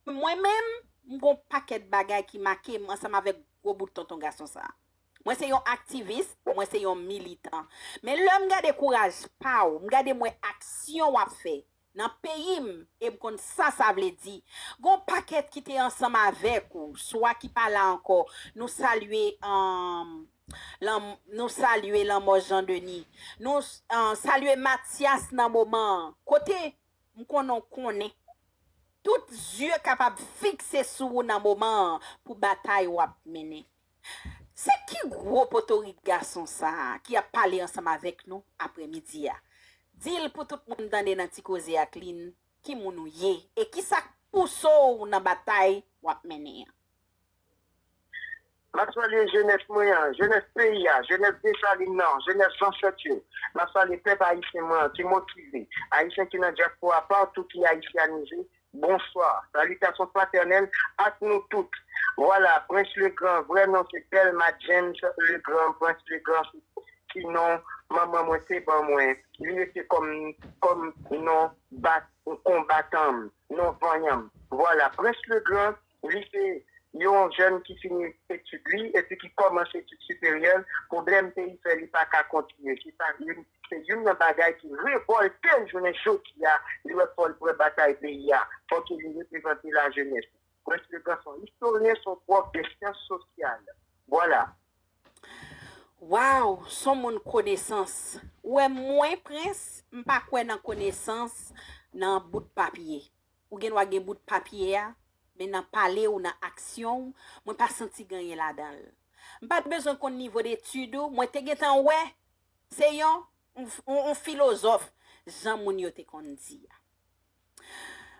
Mwen menm, m gon pakèt bagay ki make m ansanm avèk gwo bout tonton gason sa. Mwen se yon aktivis, mwen se yon militan. Men lè m gade kouraj pa w, m gade m wè aksyon w ap fè nan peyi m e m konn sa sa vle di. Gon pakèt ki te ansanm avèk ou, swa ki pa la ankò, nou salye nou salye lanmò Jean Denis, nou salye Matyas nan moman an, kote M konnen w konnen. Tout zye kapab fikse sou ou nan moman an pou batay w ap mennen. Se ki gwo potorik gason sa a ki ap pale ansanm avèk nou aprèmidi a? Di l pou tout moun tande nan Ti Koze ak Lynn ki moun ou ye e ki sa k pouse w nan batay w ap mennen an. M ap salye jenès mwen an, jenès peyi a, jenès Desalin nan, jenès zansèt yo. M ap salye pèp ayisyen mwen an ki motive, ayisyen ki nan dyaspora patou ki ayisyanize, bonswa, salitasyon fratènèl ak nou tout. Vwala, Prince Legrand, vrè non se Delma James Legrand, Prince Legrand se ti non manman mwen te ban mwen, li rete kòm kòm non bat konbatan m, non vanyan m. Vwala, Prince Legrand. Li se yon jèn ki fini etid li epi ki kòmanse etid siperyè l, pwoblèm peyi fè li pa ka kontinye. Se sa youn, se youn nan bagay ki revòlte l jounen jodi a, li wè fò l pran batay peyi a, fò ke li reprezante lajenès. Prince Le Grand se yon istoryen, se yon pwòf de syans sosyal. Vwala. Waww son moun konesans ou wè mwen prince m pa kwè nan konesans nan bout papye. Ou gen dwa gen bout papye a, men nan pale ou, nan aksyon ou, mwen pa santi gen anyen ladan l. M pa t bezwen konn nivo detid ou, mwen te gentan wè se yon yon filozòf, jan moun yo te konn di a.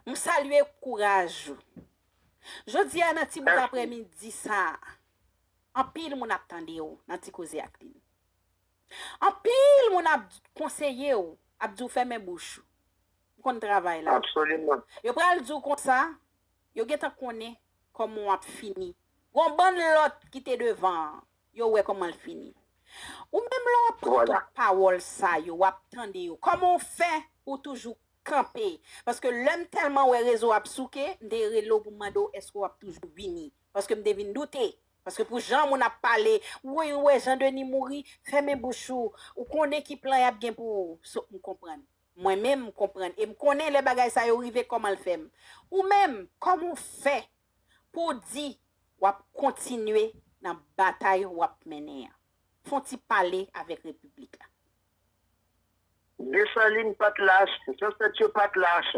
M salye kouraj ou. Jodi a nan ti bout aprèmidi sa a, anpil moun ap tande ou nan Ti Koze ak Lynn. Anpil moun ap konseye w, ap di w fèmen bouch ou. M konn travay la. Absoliman. Yo pral di w konsa, yo gentan konnen kòman w ap fini. Gon bann lòt ki te devan an, yo wè kòman l fini. Ou menm lè w ap pran tout pawòl sa yo, w ap tande yo, kòman w fè pou w toujou kanpe? Paske lè m tèlman wè rezo a ap souke, m te rele w pou m mande w èske w ap toujou vini. Paske m te vin doute Paske pou jan moun ap pale, wouyy ou wè jan Denis mouri, fèmen bouch ou, ou konnen ki plan yap gen pou ou, so m konprann. Mwen menm m konprann e m konnen lè bagay sa yo rive kòman l fè m. Ou menm, kòman ou fè pou w di wap kontinye nan batay wap mennen an? Fon ti pale avèk repiblik la. Desalin pa t lach, zansèt yo pa t lach.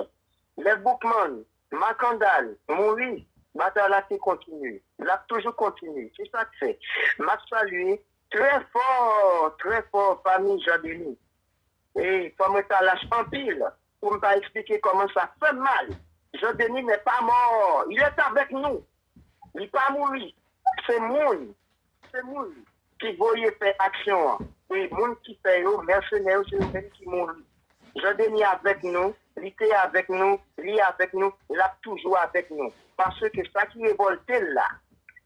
Lè Boukman, Makandal, mouri, batay la te kontinye. L ap toujou kontinye. Se sa k fè m ap salye trè fò, trè fò fanmi Jan Deni. E fò mwen ta lach anpil Poum ta esplike kòman sa fèm mal Jean Denis n'est pas mort il est avec nous li pa mouri se moun se moun ki voye fè aksyon an e moun ki fè yo mèsenè yo se yo menm ki mouri Jean Denis avèk nou li te avèk nou li avèk nou lap toujou avèk nou paske sa ki revòltel la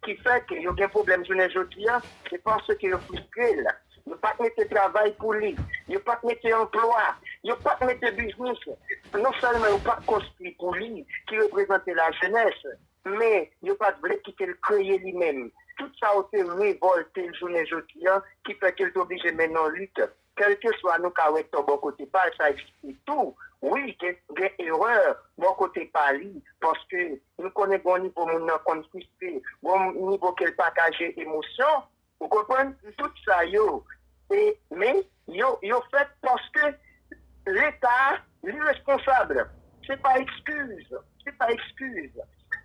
ki fè ke yo gen pwoblèm jounen jodi a, se paske yo fristre l. Yo pa t mete travay pou li. Yo pa t mete anplwa. Yo pa t mete biznis. Non sèlman yo pa t konstwi pou li, ki reprezante lajenès, men yo pa t vle kite l kreye li menm. Tout sa yo te revòlte l jounen jodi a, ki fè ke l te oblije mennen yon lit. Kelkeswa nou ka wè tò bò kote pal sa egziste tou wi gen erè bò kote pa li paske nou konnen gon nivo moun nan konn fristre gon nivo kel paka jere emosyon ou konprann tout sa yo e men yo yo fèt paske leta li responsab se pa ekskiz se pa ekskiz.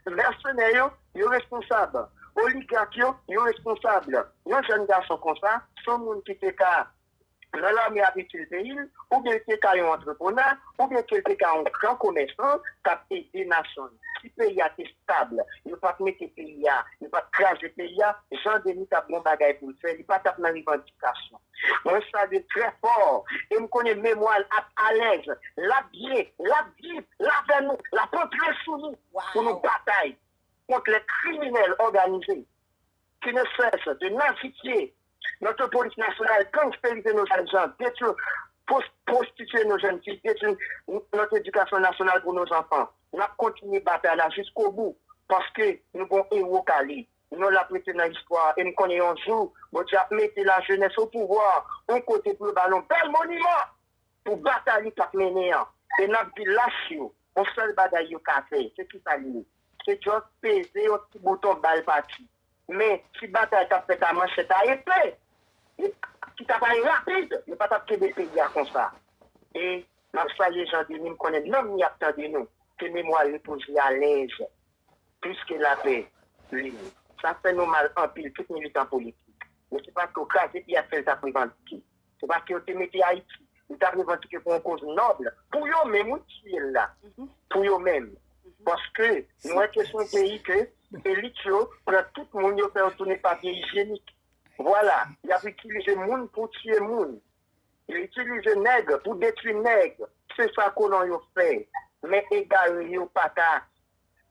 Mèsenè yo, yo responsab. Oligak yo, yo responsab. Yon jèn gason konsa, s on moun ki te ka nan lame ap itil peyi l, oubyen l te ka yon antreprenè, oubyen ke l te ka yon gran komèsan k ap ede nasyon l. Si peyi a te stab, yo pa t mete peyi a, yo pa t kraze peyi a, Jan Deni t ap gen yon bagay pou l fè, li pa t ap nan revandike. Felisitasyon. Mwen salye trè fò e m konnen memwa l ap alèz, l ap byen, l ap viv, l avè nou, l ap antre sou nou pou nou batay kont lè kriminèl òganize ki ne sès de nazipye notre polis nasyonal, gangsterize nou jèn jan, detwi, pwostitye nou jèn fi, detwi notre edikasyon nasyonal pou nou zanfan. N ap kontinye batay la jiskobou paske nou gon ewo kale. Non l ap rete nan istwa e m konnen yon jou Bondye ap mete lajenès opouvwa yon kote pou yo ba l yon bèl moniman pou batay li t ap mennen an e n ap di lach yo yon sèl bagay yo ka fè se kisa li ye se just peze yon ti bouton bal pati men si batay t ap fèt a manchèt a epe ki t ap ale rapid yo pa t ap kenbe peyi a konsa e m ap salye Jean Denis m konnen nanm li ap tande nou ke memwa l repoze alèz. plis ke lapè lib. Sa fè nou mal anpil tout militan politik. Men se pa to kraze pye ap fè yo tap revandike. Se paske yo te mete Ayiti. Yo tap revandike pou yon koz nòb. Pou yo menm wi tiye l la. Pou yo menm. Paske nou wè ke se yon peyi ke elit yo pran tout moun yo fè yo tounen papye ijyenik. Vwala. Yap itilize moun pou tiye moun. Yo itilize nèg pou detwi nèg se sa kolon yo fè men egare yo paka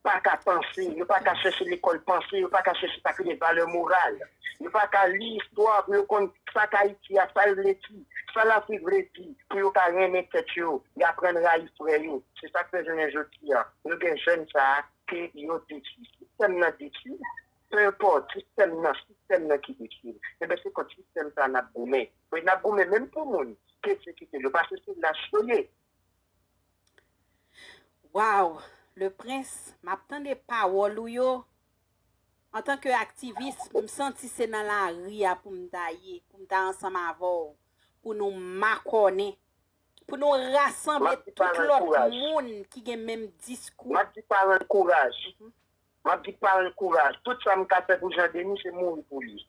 paka panse yo paka chèche lekòl panse yo paka chèche sa ki rele valè moral yo paka li istwa pou yo konn sa k ayiti a sa l vle di sa lafrik vle di pou yo ka renmen tèt yo y aprann rayi frè yo se sa k fè jounen jodi a nou gen jèn sa ke yo detwi sistèm nan detwi l penpòt sistèm nan sistèm nan ki detwi l enben se kont sistèm sa n ap goumen. Wi nap goumen menm pou moun pesekite yo pase se lach yo ye. Waww le prince map tande pawòl ou yo antan ke aktivis m santi se nan lari a poum ta ye poum ta ansanm avèw pou nou makònen pou nou rasanble tout lòt moun ki gen menm diskou map di paranl kouraj map di paranl kouraj tout sam ka fè pou Jean Denis se mouri pou li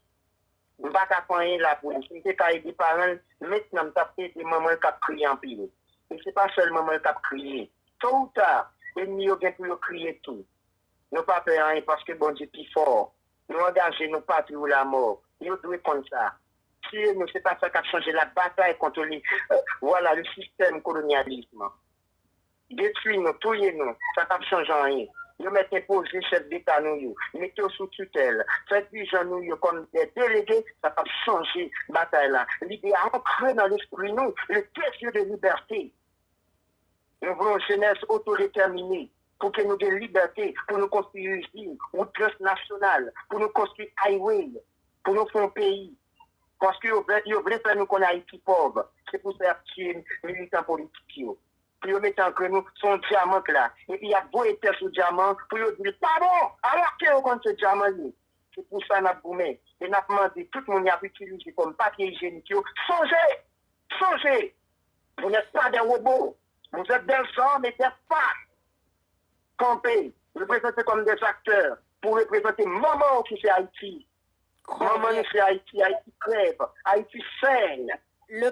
Yo pa ka fè anyen la pou li. Si m te ka ede paran l, mentnan m t ap ede manman l k ap kriye anpil. E se pa sèl manman l k ap kriye. To ou ta, enmi yo gen pou yo kriye tou. Nou pa pè anyen paske Bondye pi fò. Nou angaje nou patri ou lamò. Yo dwe konn sa. Tiye nou, se pa sa k ap chanje l ap batay kont li. Vwala, le sistèm kolonyalism. Detwi nou, touye nou, sa pap chanje anyen. Yo mèt enpoze chèf deta nou yo, mete yo sou titèl, fè dirijan nou yo kòm dè delege, sa pap chanje batay la. Lide a ankre nan lespri nou, le desir de liberté. Nou vle yon jenès otodetèmine, pou ke nou gen libète pou nou konstwi izin, wout transnasyonal, pou nou konstwi highway. pou nou fon peyi paske yo vè yo vle fè nou konn ayiti pòv se pou sa yap tiye militan politik yo pou yo mete ankr nou son dyaman k la epi yap voye tè sou dyaman pou yo dil pa bon alòske yo konn se dyaman l ye se pou sa nap goumen e nap mande tout moun yap itilize kòm papye ijenik yo sonje sonje vous n'êtes pas des robots vous êtes des hommes et des femmes. kanpe, reprezante kòm des aktè pou reprezante manman w ki se Ayiti. Manman nou se Ayiti, Ayiti krèv, Ayiti seny.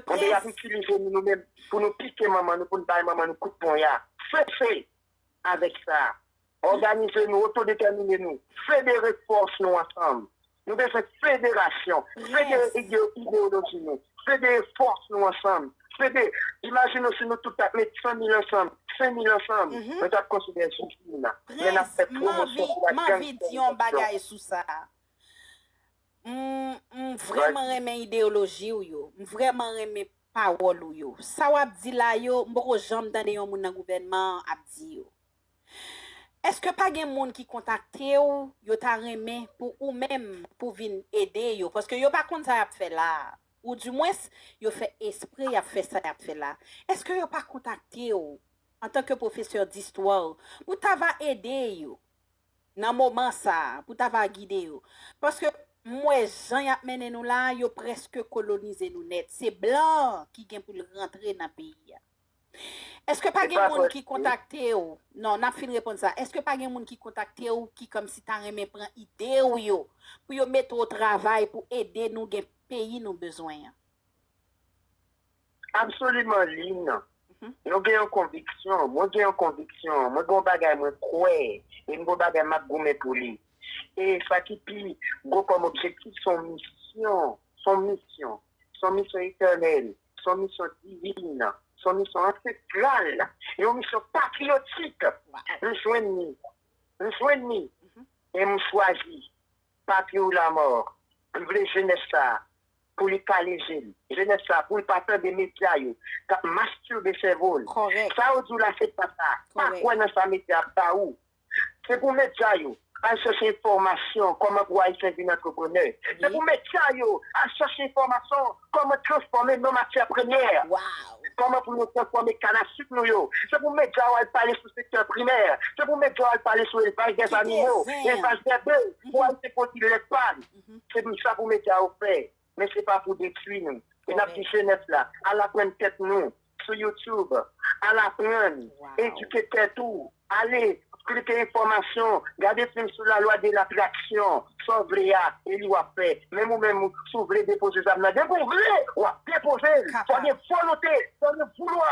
Konbe y ap itilize nou nou menm pou nou pike manman nou, pou nou bay manman nou kout ponya. Sese avèk sa! Òganize nou, otodetèmine nou, federe fòs nou ansanm Nou bezwen federasyon, federe ideyoloji nou, federe fòs nou ansanm, fede, imajine w si nou tout t ap met 100 mil ansanm, 5 mil ansanm, mwen t ap konsidere sou fim nan, lè n ap fè pwomosyon pou la gangsterizasyon. M vreman renmen ideyoloji w yo, m vreman renmen pawòl ou yo. Sa w ap di la yo, m poko janm tande yon moun nan gouvènman an ap di yo. Eske pa gen moun ki kontakte w yo ta renmen pou ou menm pou vin ede yo paske yo pa konn sa y ap fè la a ou di mwens yo fè espre y ap fè sa y ap fè la eske yo pa kontakte w antanke pwofesè distwa w pou ta va ede yo nan moman sa a pou ta va gide yo paske m wè jan y ap mennen nou la a yo prèske kolonize nou nèt se blan an ki gen pou l rantre nan peyi a. Eske pa gen moun ki kontakte ou? Non, n ap fin reponn sa. Eske pa gen moun ki kontakte ou ki kòmsi ta renmen pran ide ou yo pou yo mete w o travay pou ede nou gen peyi nou bezwen an? Absoliman, Lynn. Nou gen yon konviksyon, mwen gen yon konviksyon, mwen gen yon bagay mwen kwè e m gen yon bagay m ap goumen pou li. E sa ki pi gwo kòm objektif se yon misyon, se yon misyon. Se yon misyon etènèl, se yon misyon divin, se yon misyon ansestral, yon misyon patriyotik. M jwenn li, m jwenn li e m chwazi Papi ou Lamò. M vle jenès sa a pou li kale je l, jenès sa a pou l pa tande medya yo k ap mastirbe sèvo l. Sa ou di w la se pa sa, pa kwè nan sa medya ap ba ou. Se pou medya yo al chèche enfòmasyon kòman pou Ayisyen vin antreprenè. Se pou medya yo al chèche enfòmasyon kòman transfòme non matyè premyè. Kòman pou nou transfòme kann a suk nou yo. Se pou medya yo al pale sou sektè primè. Se pou medya yo al pale sou elvaj dè zanimo, elvaj dè bèf pou Ayisyen pwodui lèt pa l. Se pou sa pou medya yo fè. men se pa pou detwi nou. E n ap di jenès la, al aprann tèt nou sou YouTube, al aprann, edike tèt ou, ale klike enfòmasyon, gade fim sou la lwa de latraksyon, sa w vle a, e li w ap fè. Menm ou menm, si w vle depoze zam nan, depi w vle, w ap depoze l. Fò gen volonte, fò gen voulwa.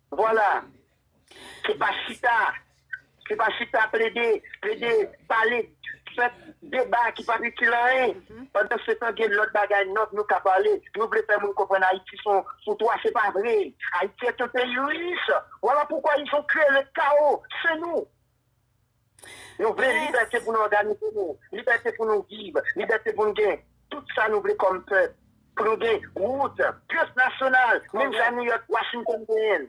Vwala! Se pa chita, se pa chita plede, plede, pale, fè deba ki pap itil anyen. Pandan se tan gen lòt bagay nòb nou ka pale. Nou vle fè moun konprann Ayiti son foutwa, se pa vre. Ayiti est un pays riche. Vwala poukwa ils ont cree le chaos, se nou. Nou vle libète pou n òganize nou, libète pou nou viv, libète pou n gen tout sa nou vle kòm pèp, pou nou gen wout, piyes nasyonal, menm jan Nouyòk, Washington genyen l.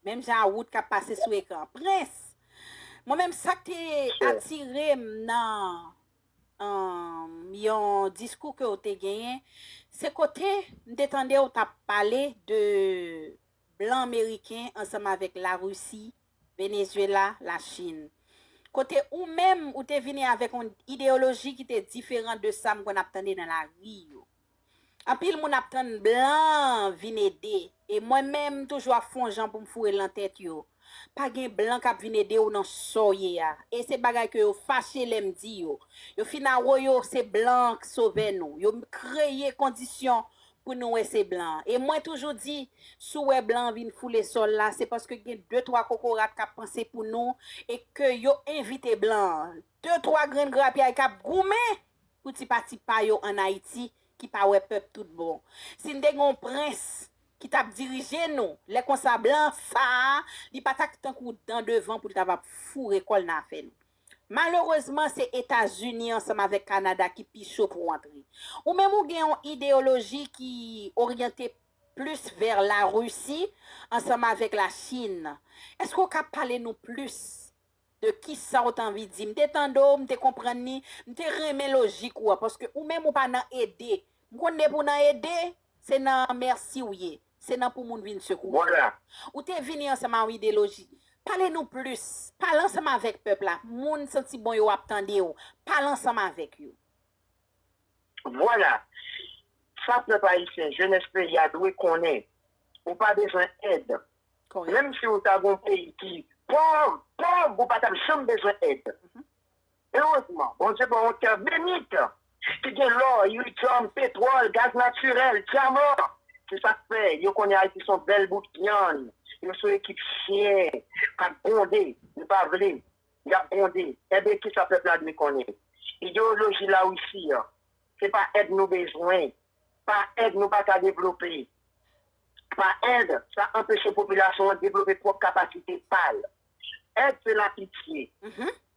Menm jan a wout k ap pase sou ekran. Prens, mwen menm sa k te atire m nan yon diskou ke w te genyen, se kote m te tande w t ap pale de blan meriken ansanm avèk Larisi Venezuela, la Chine. Kote ou menm ou te vini avèk on ideyoloji ki te diferan de sa m konn ap tande nan lari yo. Anpil moun ap tann blan vin ede e mwen menm m toujou ap fon jan pou m foure l nan tèt yo. Pa gen blan k ap vin ede ou nan sa w ye a. E se bagay ke yo fache lè m di yo. Yo fin awoyo se blan an k sovè nou. Yo kreye kondisyon pou nou wè se blan e mwen toujou di si w wè blan an vin foule sòl la se paske gen de twa kokorat k ap panse pou nou e ke yo envite blan an de twa grenn grapyay k ap goumen pou ti pati pa yo ann Ayiti ki pa wè pèp tout bon si n te gen yon prens ki t ap dirije nou lè konsa blan sa a li pa ta k tankou dan devan pou l ta va foure kò l nan afè nou. Malerezman se Etazini ansanm avèk Kanada ki pi cho pou antre. Ou menm ou gen yon ideyoloji ki oryante plis vè Larisi ansanm avèk Lachin. Èske ou ka pale nou plis de kisa ou t anvi di? M te tande w, m te konprann li, m te renmen lojik ou a paske ou menm ou pa nan ede. M konn depi w nan ede, se nan mèsi w ye. Se nan pou moun vin sekouman la. Ou te vini ansanm a yon ideloji. Pale nou plis. Pale ansanm avèk pèp la. Moun santi bon yo ap tande w. Pale ansanm avèk yo. Vwala! Sa pèp ayisyen, jenès peyi a dwe konnen. Ou pa bezwen èd. Menm si ou ta gen yon peyi ki pòv, pòv, ou pa t ap janm bezwen èd. Erezman, Bondye ban yon tè benit ki gen lò, iridyòm, petwòl, gaz natirèl, dyaman. Se sa k fè yo konnen Ayiti se yon bèl bout vyann. Yo se yon ekip chyen k ap gwonde. Yo pa vle. Y ap gwonde. Enben, ki sa pèp la dwe konnen? Ideyoloji Larisi an, se pa èd nou bezwen. Pa èd nou pa ka devlope. Pa èd, sa anpeche popilasyon an devlope pwòp kapasite pa l. Èd se lapitye.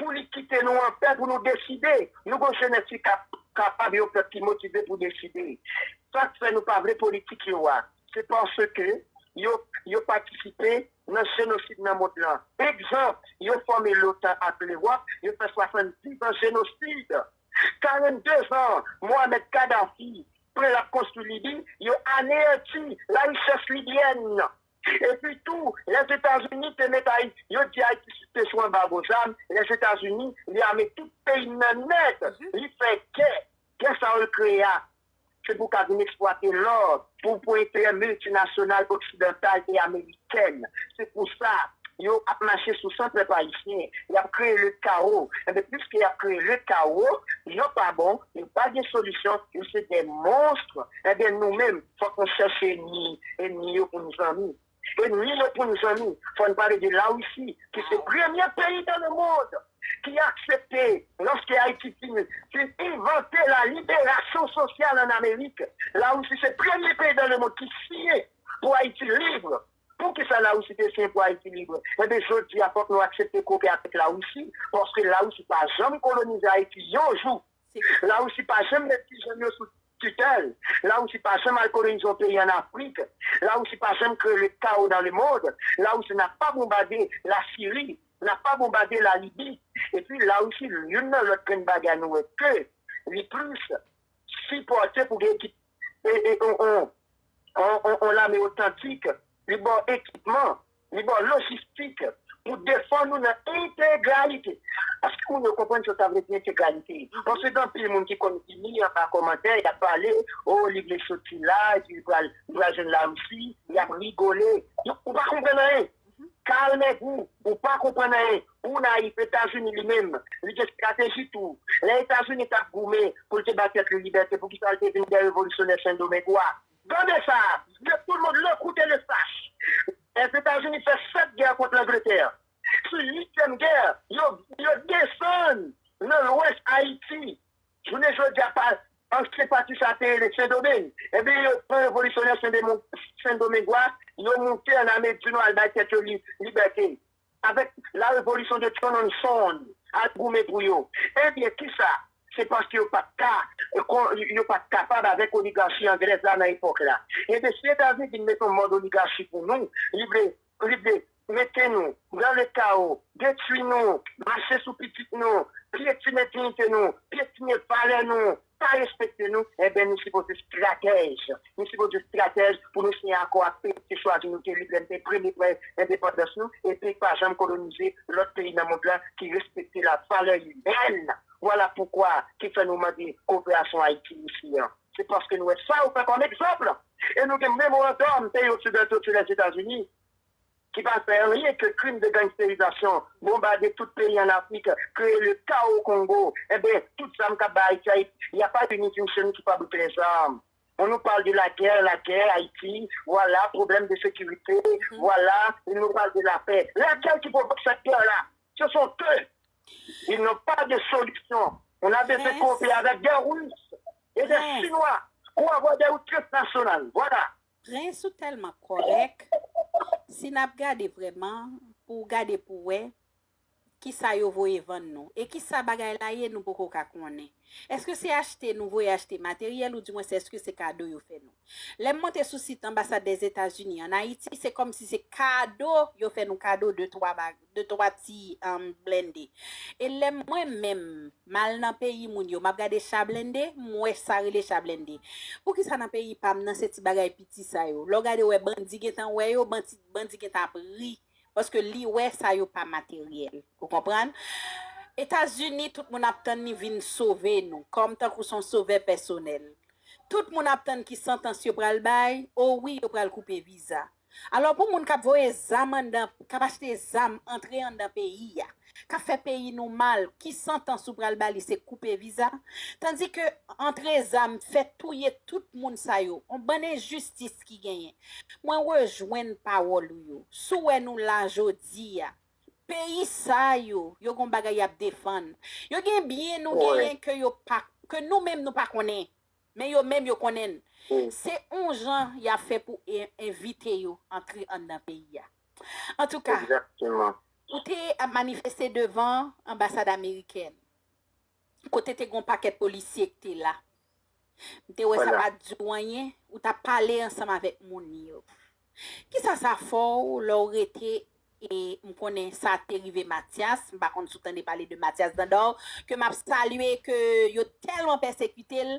pou li kite nou anpè pou nou deside. Nou gon jenès ki kapab, yon pèp ki motive pou deside. Sa k fè nou pa vle politik yo a, se paske yo patisipe nan jenosid nan mond lan. Egzanp, yo fòme lotan ak Lewòp, yo fè 70 zan jenosid. 42 zan Mohamed Kadhafi pran l ap konstwi Libi, yo aneyanti larichès libyèn. Epi tou, Lèzetazini te met Ayiti, yo di Ayiti te sou anbago zam, Lèzetazini li ame tout peyi n nan nèt, li fè gè, gè sa yo l kreye a se pou ka vin eksplwate lò pou pou enterè miltinasyonal oksidantal e amerikèn, se pou sa yo ap mache sou san pèp ayisyen, y ap kreye ledkawo, enben pliske y ap kreye ledkawo, yo pa bon, yo pa gen solisyon, yo se de monstre, enben nou menm. Fòk nou chèche enmi, enmi yo pou n zanmi. Enmi yo pou n zanmi, fò n pale de Larisi ki se premye peyi dan le mond ki aksepte loske Ayiti fin fin envante la liberasyon sosyal an Amerik. Larisi se premye peyi dan le mond ki siyen pou Ayiti lib. Poukisa Larisi te siyen pou Ayiti lib? Enben jodi a fòk nou aksepte kope avèk Larisi paske Larisi pa janm kolonize Ayiti yon jou. La Russie pa janm met ti jèn yo sou tutèl, la Russie pa janm al kolonize yon peyi an Afrik, la Russie pa janm kreye le kawo dan le mond, la Russie nap pa bonbade la Siri, nap pa bonbade la Libi, epi la Russie youn nan lòt grenn bagay nou wè ke li plis sipòte pou gen ekip e e on on on on lame otantik, li baw ekipman. Li ba w lojistik pou defann ou nan entegralite. Èske moun yo konprann sa sa vle di entegralite? Paske gen anpil moun ki konn vini anba kòmantè, y ap pale, o li vle soti la, epi li pral jwenn Larisi, y ap rigole. Donk ou pa konprann anyen. Carl Negri, ou pa konprann anyen. Ou nayif. Etazini li menm, li gen estrateji tou. Lè Etazini t ap goumen pou l te bay tèt li libète, poukisa l te vin dè revolisyonè Sendomeng ou a? Tande sa, Zye tout moun lè koute le sach. Lèzetazini fè 7 gè kont Langletè. Sou 8 tièm gè, yo yo desann nan lwès Ayiti. Jounen jodia pa ansyen pati sa te rele Sendomeng. Ebyen yo pran revolisyonè Sendomeng Sendomengo a, yo moute an Amerik Dinò al bay tèt yo li libète. Avèk la revolution de Tchononson al goumen pou yo. Ebyen kisa? Se paske yo pat ka, yo pat kapab avèk oligarchi anglèz la nan epòk la. Ebyen si Etazini vin met yon mòd oligarchi pou nou, li vle, li vle mete nou dans le chaos, detwi nou, mache sou pitit nou, pyetine dignite nou, pyetine valè nou, pa respekte nou enben nou sipoze stratèj nou sipoze stratèj pou nou siyen akò ak peyi ki chwazi nou te lib lè nou te premye pran endepandans nou epi pa janm kolonize lòt peyi nan mond lan ki respekte la valè imèn vwala poukwa ki fè nou mande koperasyon ayiti isi an se paske nou wè sa yo fè kòm egzanp e nou gen memorandòm peyi oksidanto se lèzetazini. ki pa fè anyen ke krim de gangsterizasyon, bonbade tout peyi an Afrik, kreye le kawo o Kongo, enben, tout zam kap bay Ayiti, Ayiti, il y a pas une institution qui pable plen zam. On nous parle de la guerre, la guerre, Ayiti, vwala, pwoblèm de sekirite, vwala, il nous parle de la paix. Lakèl ki pwovok sèt gè la? Se son eux. Ils n'ont pas de solution. On a besoin koopere avèk des Russes et des Chinois pou avwa des routes transnationales. Vwala. Prince ou telman korek si nap gade vreman pou ou gade pou we kisa yo voye vann nou e kisa bagay la ye nou poko ka konnen eske se achte nou voye achte materyel ou di mwen se eske se kado yo fe nou lem monte sou sit anbasad dèzetazini an ayiti se komsi se kado yo fe nou kado de twa 2 3 ti blende e lè mwen menm mal nan peyi moun yo map gade cha blende m wè sa rele cha blende poukisa nan peyi pam nan se ti bagay piti sa yo lè w gade wè bandi gentan wè yo bandi gentan ap ri paske li wè sa yo pa materyèl ou konprann etazini tout moun ap tann li vin sove nou kòm tankou son sovè pèsonèl tout moun ap tann ki santans yo pral bay o wi yo pral koupe viza Alò pou moun kap voye zam anndan kap achte zam antre anndan peyi a kap fè peyi nou mal ki santans ou pral bali se koupe viza tandi ke antre zam fè touye tout moun sa yo on bann enjistis ki genyen mwen rejwenn pawòl ou yo sou wè nou la jodi a peyi sa yo yo gon bagay yap defann yo gen byen nou genyen ke yo pa ke nou menm nou pa konnen. Men yo menm yo konnen se on jan y ap fè pou envite yo antre anndan peyi a. Antouka, ou te ap manifeste devan anbasad amerikèn kote te gen on pakèt polisye ki te la. M te wè sa pa t di w anyen, ou t ap pale ansanm avèk moun yo. Kisa sa fòw lè w rete e m konnen sa te rive Matyas, m pa konn si w tande pale de Matyas Dandor ke map salye ke yo tèlman pèsekite l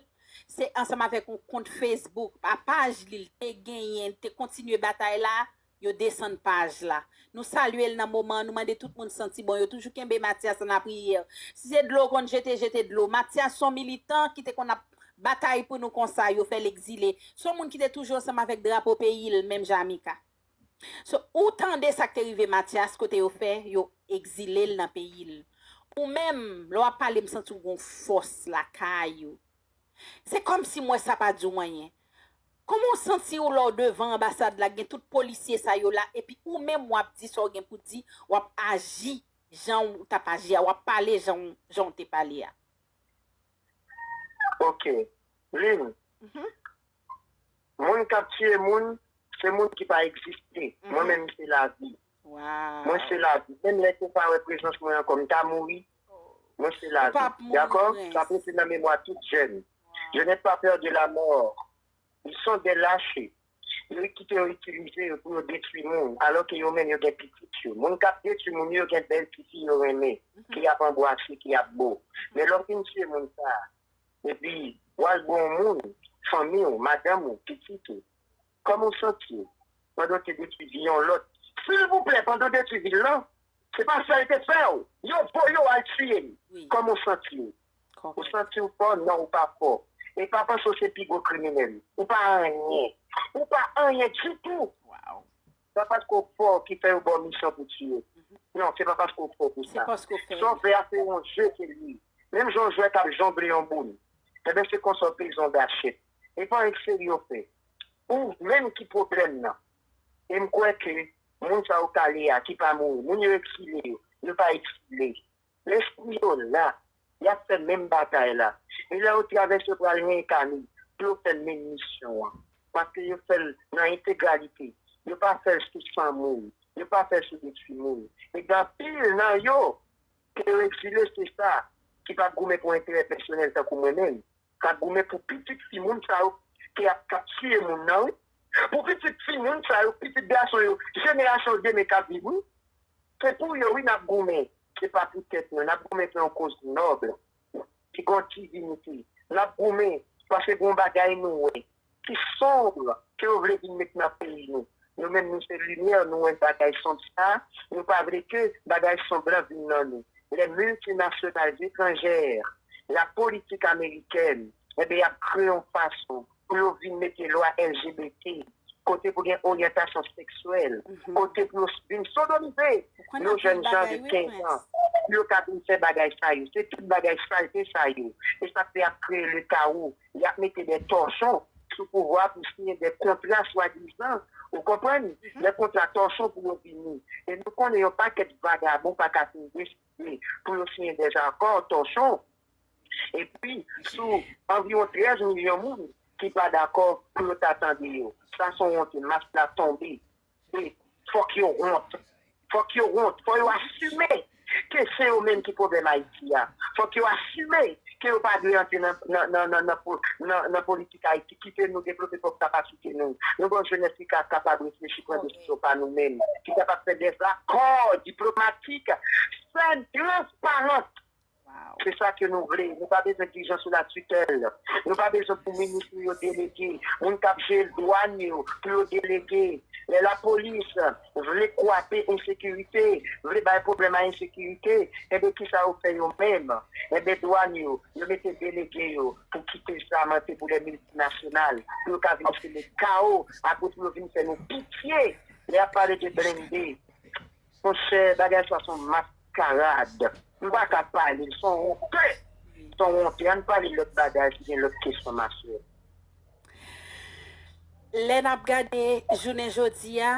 se ansanm avèk yon kont Facebook a paj li l te genyen li te kontinye batay la yo desann paj la nou salye l nan moman an nou mande tout moun santi bon yo toujou kenbe Matyas nan lapriyè si se dlo w konn jete jete dlo Matyas son militan ki te konn ap batay pou nou konsa yo fèl ekzile son moun ki te toujou ansanm avèk drapo peyil menm jan a Mika so ou tande sak te rive Matyas kote yo fè yo ekzilel nan peyil ou menm lè wap pale m santi w gon fòs lakay ou se kòmsi m wè sa pa diw anyen kòman w santi w lè w devan anbasad la gen tout polisye sa yo la epi ou menm wap di sa w gen pou di wap aji janw tap aji a wap pale janw te pale a. Ok Lynn Moun kap tiye moun se moun ki pa egziste mwen menm se lavi mwen se lavi menm lè ke ou pa wè prezans mwen ankò m ta mouri mwen se lavi dakò sa pou rete nan memwa tout jèn je n'ai pas peur de la mort Yo son de lache. Yo kite yo itilize yo pou yo detwi moun. Alò ke yo menm yo gen pitit yo. Moun kap detwi moun yo gen bèl ti fi yo renmen. Ki ap anbwase, ki ap bo. Men lè w fin tiye moun sa a. Epi w al bo yon moun, fanmi w, madanm ou, pitit ou. Kòman w santi w? Pandan w te detwi vi yon lòt. Silvouplè, pandan w detwi vi l lan. Se pa sa yo te fè w. Yo voye w al tiye l. Kòman w santi w? Ou santi w fò? Non ou pa fò. E pa panse w se pi gwo kriminèl. Ou pa anyen. Ou pa anyen ditou! Se pa paske w fò ki fè yo ba w misyon pou tiye. Non, se pa paske w fò pou sa. Sa w fè a se yon je ke l ye. Menm jan yon jwè k ap jongle yon boul. Enben se konsa w peze yon gachèt. E pa anyen k serye w fè. Ou menm ki pwoblèm nan. E m kwè ke moun sa yo kale a ki pa mouri. Moun yo eksile yo. Yo pa eksile. Lespri yo la, y ap fè menm batay la. E lè yo travèse, yo pral reenkane pou yo fè menm misyon an. Paske yo fè l nan entegralite. Yo pa fè l sou san moun. Yo pa fè l sou de timoun. E gen anpil nan yo ke yo egzile, se sa, ki pa goumen pou enterè pèsonèl tankou mwen menm. Sa goumen pou pitit fi moun sa yo ki ap kap tiye moun nan wi pou pitit fi moun sa yo pitit gason yo jenerasyon demen kap viv wi se pou yo wi nap goumen se pa pou tèt nou nap goumen pou yon koz nòb ki gon divinite nap goumen paske gon bagay nou wè ki sombre ke yo vle vin met nan peyi nou. Nou menm nou se lumière nou wè bagay sombre sa, nou pa vle ke bagay sombre lan vin nan nou. Les multinationales étrangères, la politique américaine, enben y ap kreye yon fason pou yo vin mete lwa LGBT, kote pou gen oryantasyon seksyèl, kote pou yo vin sodomize yon jèn jan de 15 ans pou yo ka vin fè bagay sa yo. Se tout bagay salte sa yo, e sa k fè y ap kreye le chaos. y ap mete dè tòchon sou pouvwa pou siyen dè kontra swadizan, ou konprann, dè kontra tòchon pou yo vini. E nou konnen yon pakèt vagabon pa ka fin deside pou yo siyen dè zakò tòchon epi sou anviwon 13 milyon moun ki pa dakò pou yo ta tande yo. Sa son wonte, mas la tonbe. E fòk yo wont. Fòk yo wont. Fò yo asime ke se yo menm ki pwoblèm Ayiti a. Fòk yo asime ke yo pa dwe antre nan politik Ayiti. Kite nou devlope pwòp kapasite nou. Nou gen yon jenès ki ka kapab reflechi, pran desizyon pa nou menm. Ki kapab fè dèzakò diplomatik fèn transparant. Se sa ke nou vle. Nou pa bezwen dijan sou la tutèl. Nou pa bezwen pou minis nou yo delege moun k ap jel dwann yo pou yo delege. Lè lapolis vle kwape ensekirite, vle bay pwoblèm a ensekirite, enben kisa yo fè yo menm? Enben dwann yo, yo mete delege yo pou kite zam antre pou lè miltinasyonal, pou yo ka vin seme kawo ak pou yo vin fè nou pitye lè y ap pale de blennde. Monchè bagay sa son maskarad. M paka pale l son wonte son wonte ann pale lòt bagay si gen lòt kesyon ma chè. Lè nap gade jounen jodi a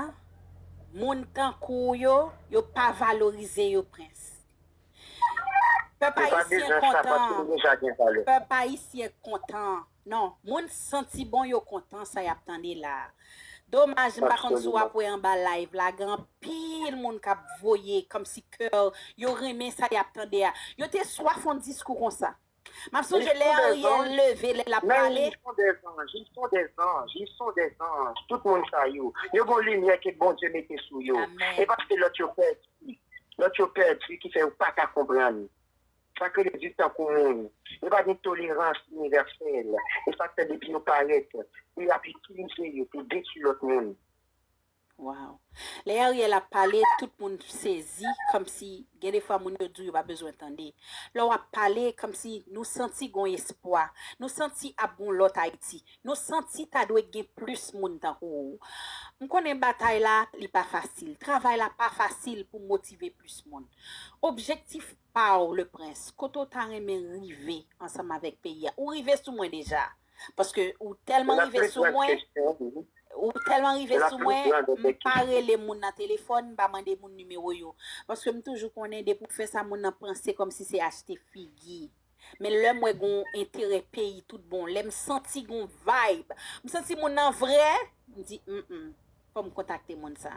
moun tankou w yo yo pa valorize yo prens. Pèp ayisyen kontan pèp ayisyen kontan. Non, moun santi bon yo kontan sa yap tande la. Domaj m pa konn si w ap wè anba live la gen anpil moun k ap voye kòmsi kè yo renmen sa yap tande a. Yo te swaf yon diskou konsa. M ap sonje lè Ariel leve lè lap pale. sa k rele di tankou moun, yo pa gen tolerans inivèsèl, e sa k fè depi yo parèt, pou y ap itilize yo pou detui lòt moun. Waww. Lè Ariel ap pale tout moun sezi kòmsi gen de fwa moun yo di w yo pa bezwen tande. Lè w ap pale kòmsi nou santi gon espwa. Nou santi ap gon lòt Ayiti. Nou santi ta dwe gen plis moun tankou w. M konnen batay la li pa fasil. Travay la pa fasil pou motive plis moun. Objektif paw le prince kote ou ta renmen rive ansanm avèk peyi a ou rive sou mwen deja paske ou tèlman rive sou mwen ou tèlman rive sou mwen m pa rele moun nan telefòn m pa mande moun nimewo yo paske m toujou konnen depi ou fè sa moun nan panse kòm si se achte figi men lèm wè gon enterè peyi tout bon lèm santi gon vibe m santi moun nan vrè m di m m fòm kontakte moun sa.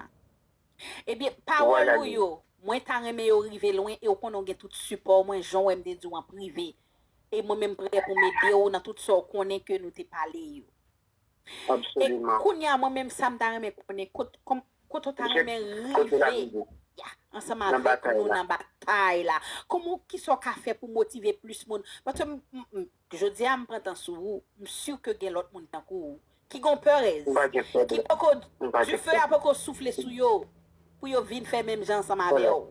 Ebyen pawòl ou yo mwen ta renmen yo rive lwen e ou konnen ou gen tout sipò mwen jan ou wè m te di w an prive e mwen menm prè pou m ede w nan tout sa ou konnen ke nou te pale yo. E kounye a mwen menm sa m ta renmen konnen kote ou ta renmen rive ansanm avèk nou nan batay la? Kisa ou ka fè pou motive plis moun? Paske m Jodi a m pran tan sou ou, m sur ke gen lòt moun tankou ou ki gon peurez, ki poko, dife a poko soufle sou yo pou yo vin fè menm jan ansanm avè w.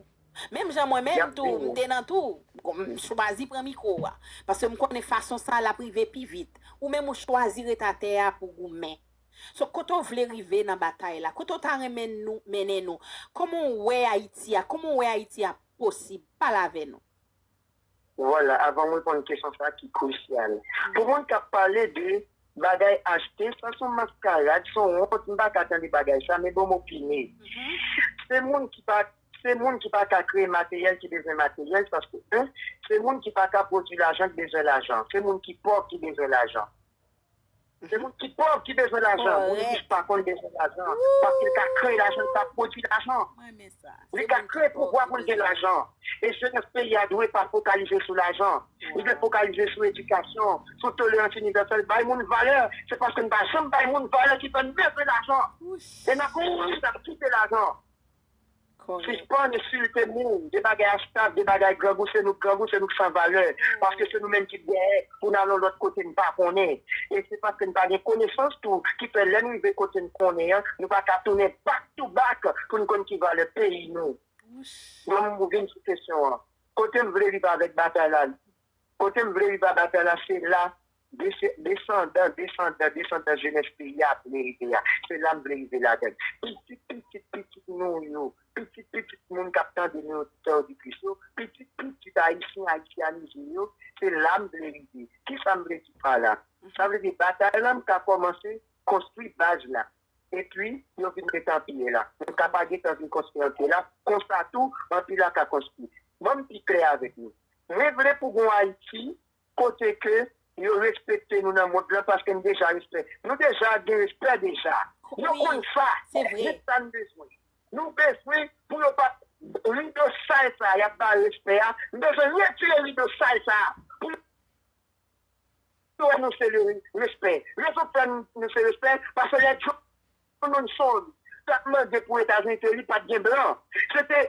Menm jan mwen menm tou m te nan tou, m chwazi pran mikro a, paske m konnen fason sa l ap rive pi vit. Ou menm ou chwazi ret atè a pou goumen. So kote w vle rive nan batay la? Kote w ta renmen nou mennen nou? Kòman w wè Ayiti a? Kòman w wè Ayiti a posib? Pale avè nou. Vwala, avan m reponn kesyon sa ki krusyal. Pou moun k ap pale de bagay achte, sa s on maskarad, s on wont, m pa ka tande bagay sa, men bon m opine. Se moun ki pa Se moun ki pa ka kreye materyèl ki bezwen materyèl, paske 1, se moun ki pa ka pwodui lajan k bezwen lajan. Se moun ki pòv ki bezwen lajan. Se moun ki pòv ki bezwen lajan. Moun rich pa konn bezwen lajan. Paske li ka kreye lajan, li ka pwodui lajan. Li ka kreye pouvwa pou l gen lajan. E jenès peyi a dwe pa fokalize sou lajan. Li dwe fokalize sou edikasyon, sou tolerans inivèsèl, bay moun valè. Se paske n pa janm bay moun valè ki fè n bezwen lajan. E n ap mouri, n ap kite lajan. Sispann ensilte moun, de bagay astav, de bagay grangou, se nou k grangou, se nou k san valè, paske se nou menm ki t dèyè pou n al yon lòt kote n pa konnen. E se paske n pa gen konesans tou ki fè lè n rive kote n konnen an, nou pa ka tounen back to back pou n konn ki valè peyi nou. Bon, m vin sou kesyon an. Kote m vle rive avèk batay la, kote m vle rive a batay la, se la Desandan, desandan, desandan jenès peyi a ap vle rive a. Se la m vle rive ladan l. Pitit pitit pitit nou yo, pitit pitit moun k ap tande nou, oditè, oditris yo, pitit pitit Ayisyen ayisyanize yo, se la m vle rive. Ki sa m vle di pa la? Sa vle di batay la m ka kòmanse konstwi baz la. Epi yo vin met anpye la. M ka pa gentan vin konstwi anpye la. Konsa tou, anpye la ka konstwi. Ban m pi klè avèk nou. Mwen vle pou gen yon Ayiti Kote ke yo respekte nou nan mond lan paske nou deja respè. Nou deja gen respè deja. Yo konn sa. Ni sa n bezwen. Nou bezwen pou yo pa rido sal sa a y ap bare respè a. Nou bezwen retire rido sal sa a pou yo wè nou se le respè. Rezon k fè nou se respè paske lè John Monson t ap mande pou Etazini te li pa t gen blan. Se te.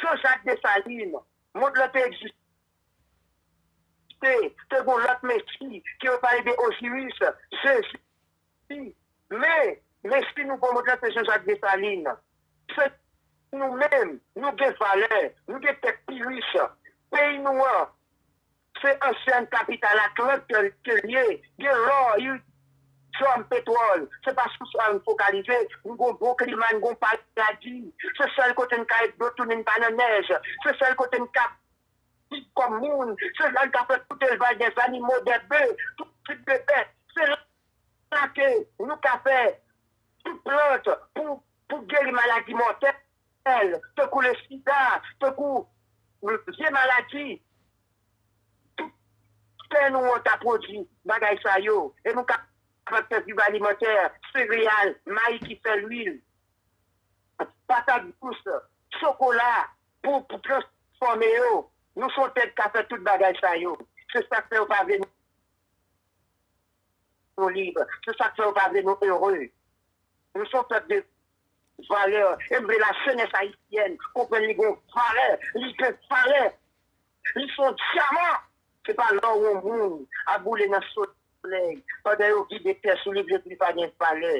Jean Jacques Dessalines, mond lan te egziste, te gen yon lòt Mesi, ke yo pale de Osiris, Jezi, men, Mesi nouvo mond lan se Jean Jacques Dessalines. Se nou menm, nou gen valè, nou gen tèt pi rich, peyi nou an, Se ansyen kapital ak lòt tè ke l ye. Gen lò, iridium, petwòl. Se pa sou sa n fokalize. Nou gen yon bon klima, n gen yon paradi. Se sèl kote n ka jwenn dlo tou ni n pa nan nèj. Se sèl kote n ka viv kòm moun. Se la n ka fè tout elvaj dè zanimo, dè be, tout tip de bèt. Se la ke nou ka fè tout plant pou geri maladi mòtèl. L, tankou le sida, tankou vye maladi. Tout tè nou an ta pwodui bagay sa yo e nou ka kapab fè diri alimantè, sereyal, mayi ki fè lwil, patat dous, chokola pou transfòme yo. Nou son tè ki ka fè tout bagay sa yo. Se sa k fè yo pa vle nou lib. Se sa k fè yo pa vle nou ere. Nou son pèp de. Valè, e m vle la jenès ayisyèn konprann li gon valè, li gen valè, li s on dyaman, se pa lò yon moun ap boule nan solèy pandan yo vide tè sou li vle di li pa gen valè.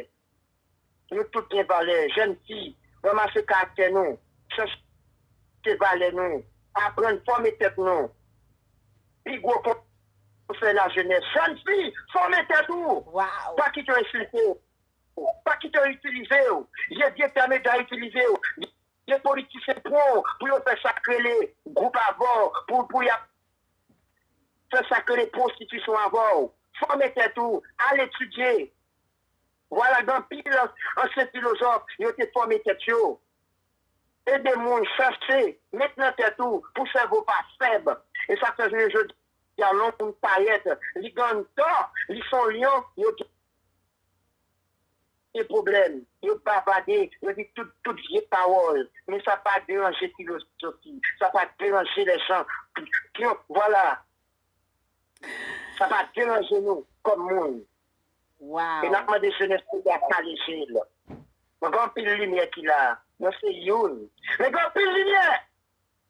Nou tout gen valè, jèn fi, ranmase karaktè nou, chèche valè nou, aprann fòme tèt nou, pi gwo konsèy lajenès, jèn fi, fòme tèt ou, pa kite yo ensilte w, Pa kite yo itilize w. Ye vye tè medya itilize yo. Gen politisyen pran w pou yo fè sa k rele gwoup avè w, pou y ap fè sa k rele pwostitisyon avè w. Fòme tèt ou, al etidye. Vwala gen anpil ansyen filozòf, yo te fòme tèt yo. Ede moun, chache, met nan tèt ou pou sèvo w pa fèb. E sa k fè jounen jodi a lòm parèt li gen tò, li s on lyon, yo Gen pwoblèm, yo bavade, yo di tout tout vye pawòl, men sa pa deranje filozofi, sa pa deranje lèjan, pwont, vwala, sa pa deranje nou kòm moun. E n ap mande jenès peyi a kale je l. Mwen gen anpil limyè ki la, mwen se youn, men gen anpil limyè!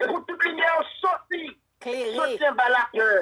E pou tout limyè yo soti, soti anba lapè!